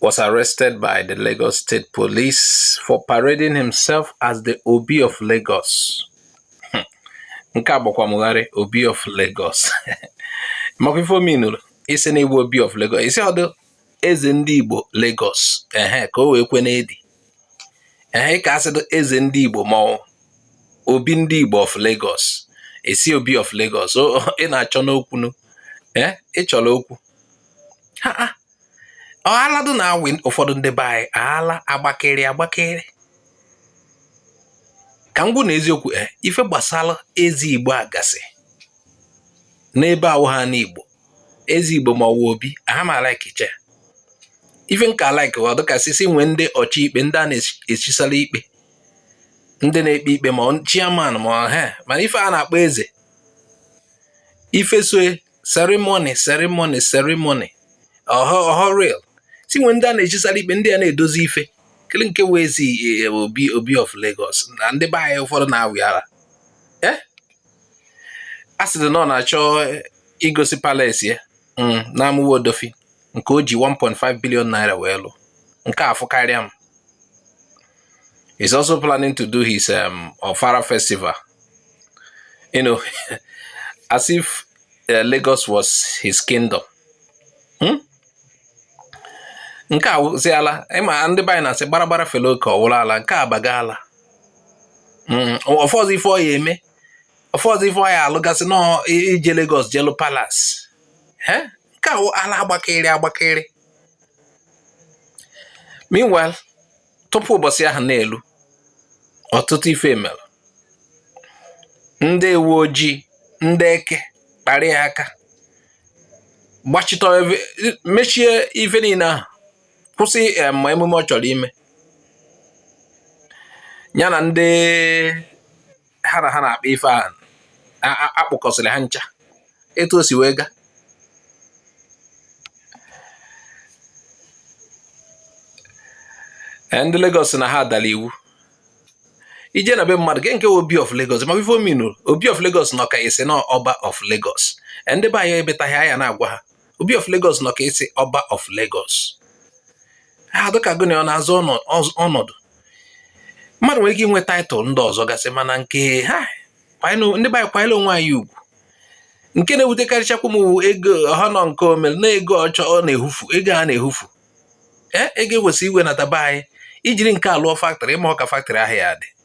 was arrested by the Lagos State Police for parading himself as the Obi of Lagos. Hmm. Nke a gbakwa m gharị Obi of Lagos. Maka ife ọ meanụrụ ị sị na ị bụ Obi of Lagos ị sị ọ dụ eze ndị Igbo Lagos ehe ka o wee kwe n'edi ehe ka a sịdụ eze ndị Igbo ma ọ wụ Obi ndị Igbo of Lagos ị sị Obi of Lagos ị na-achọnụ okwu nụ ee eh, ị chọrọ okwu ha ọ ala dị na-awị ụfọdụ ndị be anyị ala agbakịrị agbakịrị ka m gwa unu eziokwu e ife gbasara eze Igbo a gasị n'ebe awụha ana Igbo eze Igbo ma ọ wụ obi aha m a-like icha ife nka like ọ dịka sisi nwee ndị ọchị ikpe ndị a na-echisara ikpe ndị na-ekpe ikpe ma chairman ma ọha mana ife a na-akpọ eze ife so e ceremony ceremony ceremony ọ họ real si nwee ndị a na-echisara ikpe ndị a na-edozi ife kele nke wụzi e, obi obi of Lagos na ndị be anyị ụfọdụ na-awị ala eh? a sịrị na ọ na-achọ igosi palace ya mm, na Amuwo Odofin nke o ji 1.5 billion naira wee lụ nke a fụkarịa m He's also planning to do his um, Ofala festival. You know, as if uh, Lagos was his kingdom. Hmm? nke a wụzi ala ị ma ndị be anyị na-asị gbaragbara fere oke ọ wụrụ ala nke a baga ala hmm, ọ fọzi ife ọ ya-eme ọ fọzi ife ọ ya-alụgasị na ije Lagos je lụ palace nke a ala agbakịrị agbakịrị meanwhile tupu ụbọchị ahụ na-elu ọtụtụ ife mere ndị uwe ojii ndị eke kparị ya aka gbachitọ mechie ife niile ahụ kwụsị eh, ma emume ọ chọrọ ime ya na ndị ha na ha na-akpa ife a a kpụkọsịrị ha ncha etu o si wee ga e, ndị Lagos na ha adala iwu ije na be mmadụ kee nke wụ obi of Lagos ma ife ọ meanụ obi of Lagos nọ ka ị sị na Ọba of Lagos e, ndị be anyị ebetaghị anyị na-agwa ha obi of Lagos nọ ka ị sị Ọba of Lagos ha dịka gụ na ya na-azọ ọnọdụ mmadụ nwere ike inwe title ndị ọzọ gasị mana nke a ndị be anyị kwanyere onwe anyị ugwu nke na-ewutekarịchakwa m ego ọha nọ nke o mere na ego ọchọ ọ na-ehufu ego a na-ehufu ee ego e kwesị iwenata be anyị i jiri nke a lụọ factory ị ma ọka factory ahụ ya-adị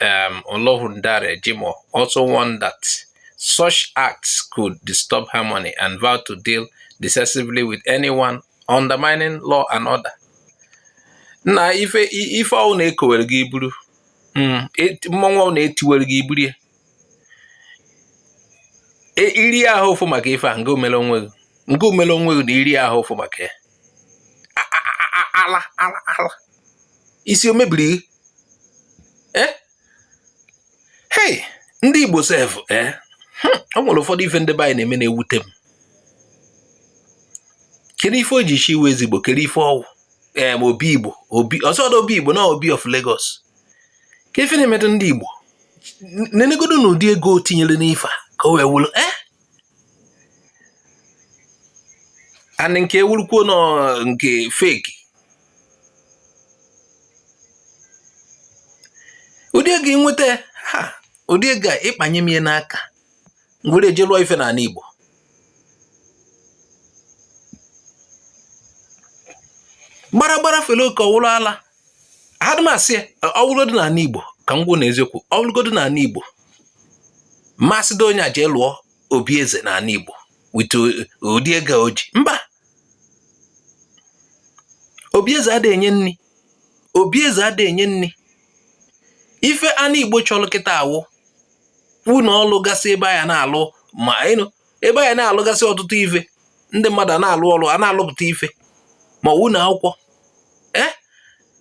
um, Olohundare Jimoh also warned that such acts could disturb harmony and vowed to deal decisively with anyone undermining law and order. na ife ife ọwụna e kowere gị iburu hmm, e, mmọnwụ ọwụna e tiwere gị iburu ya e, iri ahụ ụfụ maka ife a nke omere onwe gị nke omere onwe gị na iri ahụ ụfụ maka ya ala ala ala isi o mebiri gị eh? hey ndị Igbo sef eh? hmm, o nwere ụfọdụ ife ndị be anyị na-eme na-ewute m kedu ife o ji chiwe eze Igbo kedu ife ọwụ ee eh, obi Igbo obi ọzọ ọdọ obi Igbo na obi of Lagos kee ife na-emedụ ndị Igbo nenegodo na ụdị ego o tinyere n'ife a ka o wee wụrụ ee and nke ewurukwuo na ọ nke fake ụdị ego a inweta ya ha ụdị ego a ịkpanye m ya n'aka m were eje lụọ ife n'ala Igbo gbara gbara fere oke ọwụrụ ala adịmasị ya ọwụrụgodu n'ala Igbo ka m gwa unu eziokwu ọwụrụgodu n'ala Igbo ma a sị dị onye a jee lụọ obi eze n'ala Igbo with ụdị ego o ji mba obi eze adịghị enye nri obi eze adịghị enye nri ife ana Igbo chọrọ kịtaa wụ ụnọ ọlụ gasị ebe a ya na-alụ ma ịnụ ebe a ya na-alụgasị ọtụtụ ife ndị mmadụ a na-alụ ọlụ a na-alụpụta ife ma ụnọ akwụkwọ ee eh?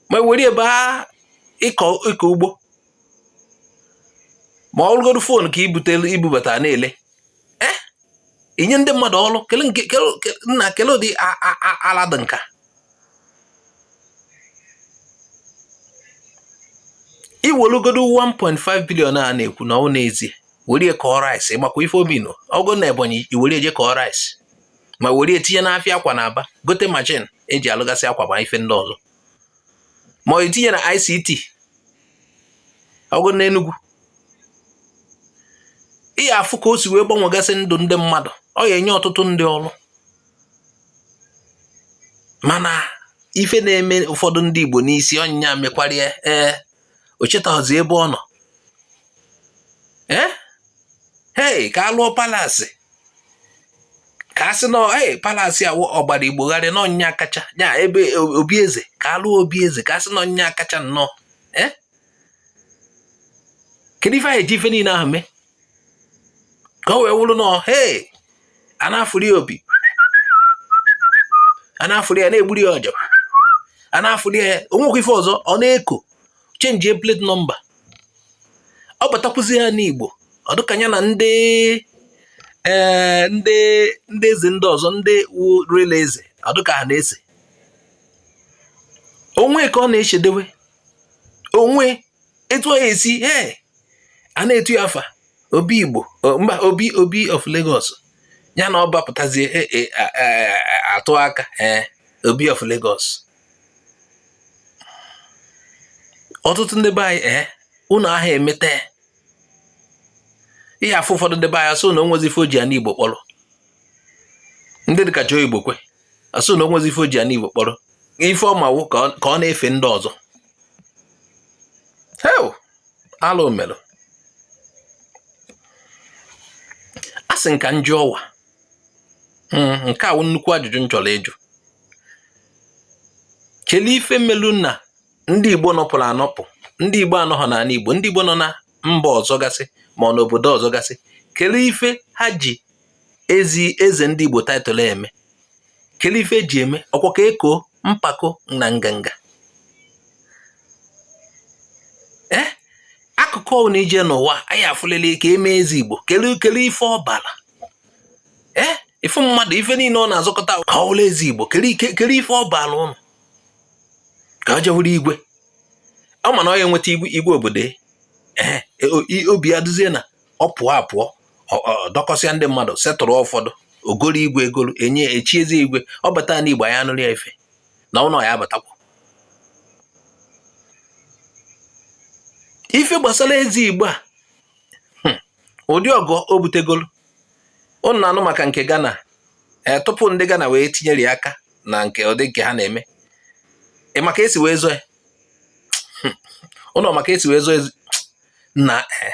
ma were ebe ịkọ ugbo ma ọwụrụgodu fon ka ibutelu ibubata na-ele eh? inye ndị mmadụ ọrụ nna kele ụdị ala dị nkaa iwelugodo 1.5 billion a na-ekwu na ọ n'ezie were kọọ rice makwa ife ubi nọ ọgụ na Ebonyi iwere eje kọọ rice ma were etinye n'afịa akwa na Aba gote machine eji alụgasị akwa ma ife ndị ọzọ ma ọ itinye na ICT ọgụ na Enugu ị ya afụ ka o si wee gbanwegasị ndụ ndị mmadụ ọ ya enye ọtụtụ ndị ọrụ mana ife na-eme ụfọdụ ndị Igbo n'isi onye nya mekwarịa ee o chetaghịzi ebe ọ nọ ee hei ka a lụọ palace ka a sị na ee palace a ọgbara Igbo gharịị na ọ nya kacha ya ebe obi eze ka a lụọ obi eze ka a sị na ọ nya kacha nnọọ ee kedu ife anyị eji ife niile ahụ eme ka o wee wụrụ na hee a na-afụli ya opi a na-afụli ya na-egburi ya ọja a na-afụli ya onwekwa ife ọzọ ọ na-eko change plate number ọ batakwuzi ya n'Igbo ọ dịka ya na ndị ee eh, ndị ndị eze ndị ọzọ ndị rela eze ọ dịka ha na-ese onwe ka ọ na-echedewe onwe etu ọ esi ee a na-etu ya afa obi igbo mba obi obi of Lagos ya na ọ bapụtazie e, e, atụ aka ee obi of Lagos ọtụtụ ndị be anyị ee unu aha emeta ihe afụ ụfọdụ ndị be anyị asụ na onwezi ife o ji ana igbo kpọrọ ndị dịka Joe Igbokwe asụ na onwezi ife o ji ana igbo kpọrọ ife ọ ma wụ ka ọ na-efe ndị ọzọ hei alụ mere a sị m ka m jụọ ọwa hmm, nke a wụ nnukwu ajụjụ m chọrọ ịjụ kelee ife melu na ndị Igbo nọpụrụ anọpụ ndị Igbo anọghọ n'ala Igbo ndị Igbo nọ na mba ọzọ gasị ma ọ n'obodo ọzọ gasị kele ife ha ji eze ndị Igbo title eme kele ife eji eme ọkwa ka eko mpako na nganga ee eh? akụkụ ọbụla i je n'ụwa anyị afụlele ka eme eze Igbo kele kele ife ọ bara ee eh? ife mmadụ ife niile ọ na-azọkọta ka ọ wụlụ eze Igbo kele ife ọ bara ụnụ ka o je wụrụ igwe ọ ma na ọ ya enweta igwe igwe obodo ya ee e, o- i- obi ya dịzie na ọ pụọ apụọ ọ- ọ dọkọsịa ndị mmadụ setụrụ ụfọdụ o goro igwe egoro enye echiezi igwe ọ bata na igbo anyị anụrụ ya ife na ụlọ ya abatakwa ife gbasara eze igbo a hmm, ụdị ọgụ o butegolu ụnụ na-anụ maka nke Ghana ee tupu ndị Ghana wee tinyere ya aka na nke ụdị nke ha na-eme ị ma ka e si wee zọọ ụnụ ma ka e si wee zọọ na e.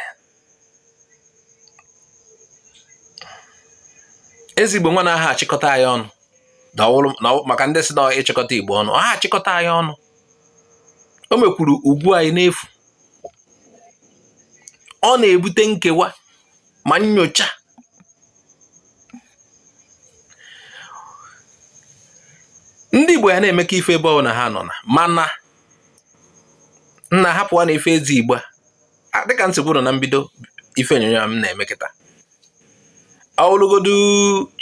eze Igbo nwa na aha achịkọta anyị ọnụ maka ndị sị na ịchịkọta Igbo ọnụ ọ ha achịkọta anyị ọnụ o mekwuru ugwu anyị n'efu ọ na-ebute nkewa ma nyocha ndị Igbo ya na-emekọ ife ebe ọ na ha nọ na mana nna hapụwanụ ife eze Igbo a dịka m si kwuo na mbido ife onyonyo m na-eme kịta ọ wụlụgodu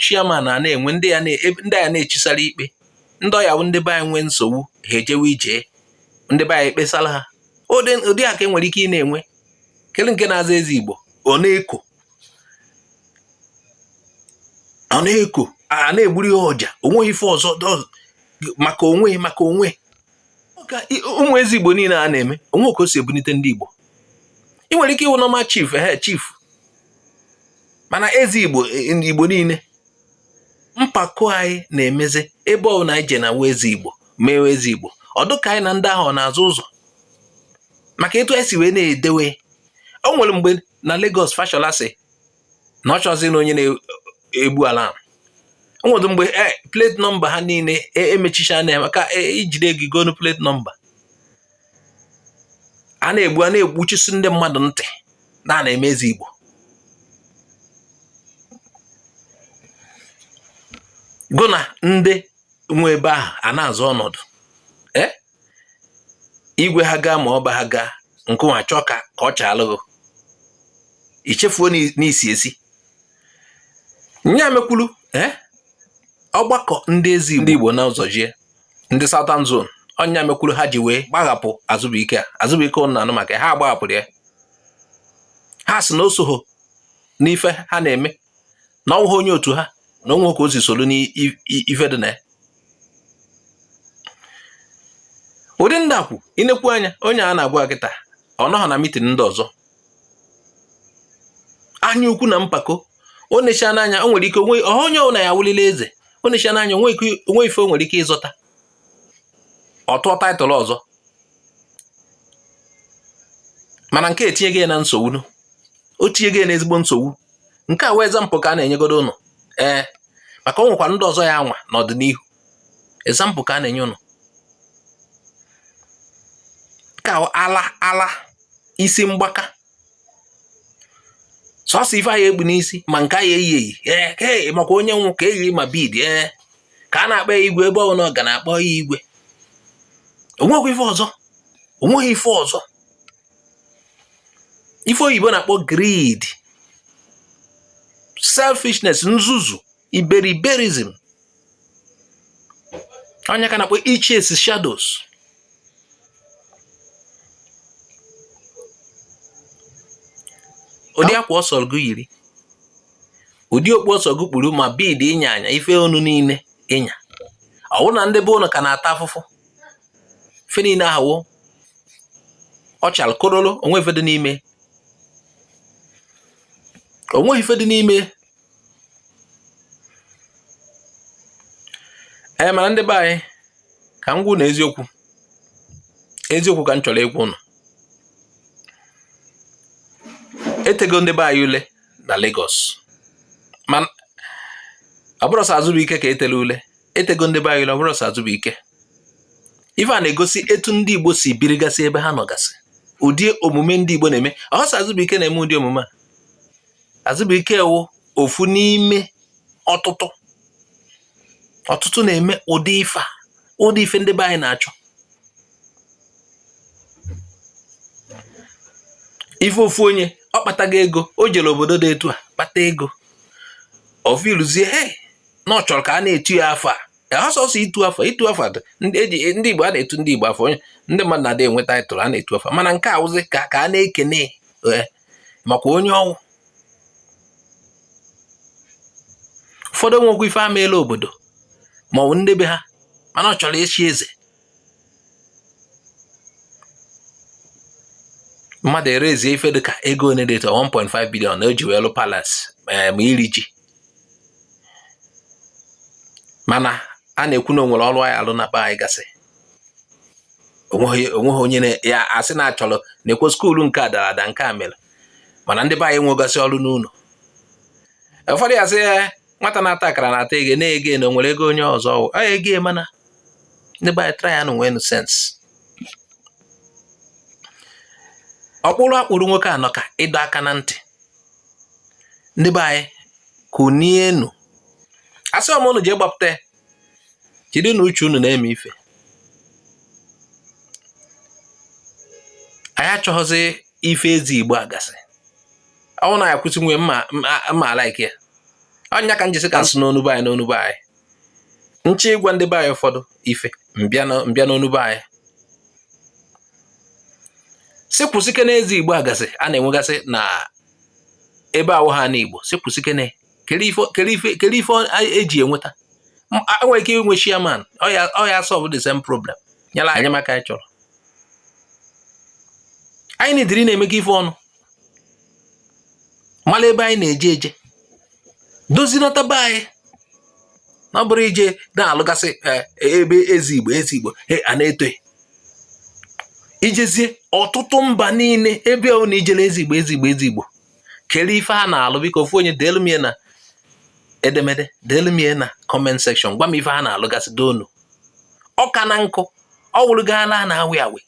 chairman a na-enwe ndị ya na-echisara ikpe ndị ọ ya-abụ ndị be anyị nwee nsogbu ha ejewe ije ndị be anyị ekpesara ha ụdị a ka e nwere ike ị na-enwe kele nke na-aza eze igbo ọ na-eko ọ na-eko a na-egburu ihe ọja onweghị ife ọzọ maka onwe maka onwe ụmụ eze igbo niile a na-eme o nwe ka o si ebunite ndị igbo ị nwere ike ịwụ normal chief high chief mana eze igbo niile mpako anyị na-emezi ebe ọbụla anyị je na nwa eze igbo mewe eze igbo ọ dụ ka anyị na ndị ahụ na-azọ ụzọ maka etu anyị si wee na-edewe o nwere mgbe na Lagos Fashola sị na ọ chọzi na onye na-egbu ala o nwere mgbe e, plate number ha niile e, emechichaana ya maka e jide gị gonu plate number a na-egbu a na-egbuchisi ndị mmadụ ntị na a na-eme eze Igbo gụ na ndị nwe ebe ahụ a na-azọ ọnọdụ eh? igwe ha ga ma ọba ha ga nke nwa chọọ ka ka ọ chaalụ ghụ i chefuo na i si esi nya mekwulu eh? ọgbakọ ndị eze ndị Igbo na ụzọ ije ndị Southern Zone ọ nya mekwuru ha ji wee gbaghapụ Azubuike a Azubuike ụnụ na-anụ maka ha gbaghapụrụ ya ha sị na o soho n'ife ha na-eme na ọ wụghị onye otu ha na o nwe ka o si soro n'ife dị na ya ụdị ndị ahụ i nekwu anya onye a na-agwa kịta ọ nọghọ na mitin ndị ọzọ anya ukwu na mpako o nechana anya o nwere ike onwe onye ọbụla ya-awụlịlị eze o nechana anya o nwe ife o nwere ike ịzọta ọ tụọ title ọzọ mana nke a etinyego ya na nsogbu o tinyego ya na ezigbo nsogbu nke a wụ example ka a na-enyegodo ụnụ ee maka o nwekwa ndị ọzọ ya-anwa n'ọdịnihu example ka a na-enye ụnụ ka ala ala isi mgbaka sọsọ ife a ya-ekpu n'isi ma nke a ya-eyi eyi ee ka e maka onye nwụ ka eyi ma bead ee ka a na-akpọ ya igwe ebe ọbụla ọ ga a na-akpọ ya igwe onweghị ife ọzọ onweghị ife ọzọ ife oyibo na-akpọ greed selfishness nzuzu iberiberism ọ nya ka a na-akpọ ichase shadows ụdị akwa ọ sọ gị yiri ụdị okpu ọ sọ gị kpuru ma bead ị nya anya ife onu niile ị nya ọ wụrụ na ndị be ụnụ ka na-ata afụfụ ife niile ahụ wụ ọchal korolo o nwe ife dị n'ime onweghị ife dị n'ime ee mana ndị be anyị ka m gwa ụnụ eziokwu eziokwu ka m chọrọ ịgwa ụnụ e tego ndị be anyị ule na Lagos mana ọ bụrọ sọ Azụbụike ka e telụ ule e tego ndị be anyị ule ọ bụrọ sọ Azụbụike ife a na-egosi etu ndị Igbo si birigasị ebe ha nọgasị ụdị omume ndị Igbo na-eme ọhọ sọ Azụbụike na-eme ụdị omume a Azụbụike wụ ofu n'ime ọtụtụ ọtụtụ na-eme ụdị ife a ụdị ife ndị be anyị na-achọ ife ofu onye ọ kpatago ego o jere obodo dị etu a kpata ego o feeluzie he na ọ chọrọ ka a na-etu ya afa ọhọ sọsọ itu afa itu afa ndị eji ndị Igbo a na-etu ndị Igbo afa onye ndị mmadụ na-adị enwe title a na-etu afa mana nke a wụzi ka ka a na-ekene makwa onye ọ wụ ụfọdụ nwekwa ife ha meelu obodo ma ọ bụ ndị be ha mana ọ chọrọ ịchị eze mmadụ ewerezie ife dịka ego one dị 1.5 billion na o ji wee lụọ palace eh, ma iri ji mana a na-ekwu na o nwere ọrụ a ya-alụ na be anyị gasị o nweghị o nweghị onye na- ya-asị na a chọrọ na-ekwe school nke a dara ada nke a mere mana ndị be anyị nwegasị ọrụ n'ụlọ ụfọdụ ya sị "Eh, nwata na-ata akara na-ata ego ya na ego ya na o nwere ego onye ọzọ ọ wụ ego ya mana ndị be anyị tryanụ nwenụ sense ọkpụrụ a kpụrụ nwoke a nọ ka ịdọ aka na ntị ndị be anyị kunienụ asịhọ m ụnụ jee gbapụta ya kedu na uche unu na-eme ife anyị achọghịzị ife eze Igbo a gasị ọ wụ na ya kwụsị nwe mma alike ya ọ ya ka m ji sị ka m sụọ n'onu be anyị n'onu be anyị m chọ ịgwa ndị be anyị ụfọdụ ife m bịa n'onu be anyị sị kwụsịkene eze Igbo a gasị a na-enwegasị na ebe awụhọ anị Igbo sị kwụsịkene kedu ife kedu ife kedu ife e ji e enweta e nwere ike inwe chairman ọ ya solve the same problem nyelụ anyị maka anyị chọrọ anyị na-ediri na-emega ife ọnụ mala ebe anyị na-eje eje dozinata be anyị na ọ bụrọ ije na-alụgasị e, ebe eze Igbo eze Igbo e, a na-etu i jezie ọtụtụ mba niile ebe ọwụna i jelu eze Igbo eze Igbo eze Igbo kere ife ha na-alụ biko ofu onye deelu m na edemede deelu m na comment section gwa m ife ha na-alụgasị doonu ọka na nkụ ọ wụrụ gaala na awị awị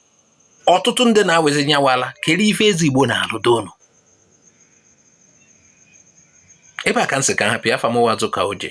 ọtụtụ ndị na-awezi nyawala kere ife ezi igbo na-alụ doonu ebe a ka m sị ka hapụ ya afa m wụ azụka oje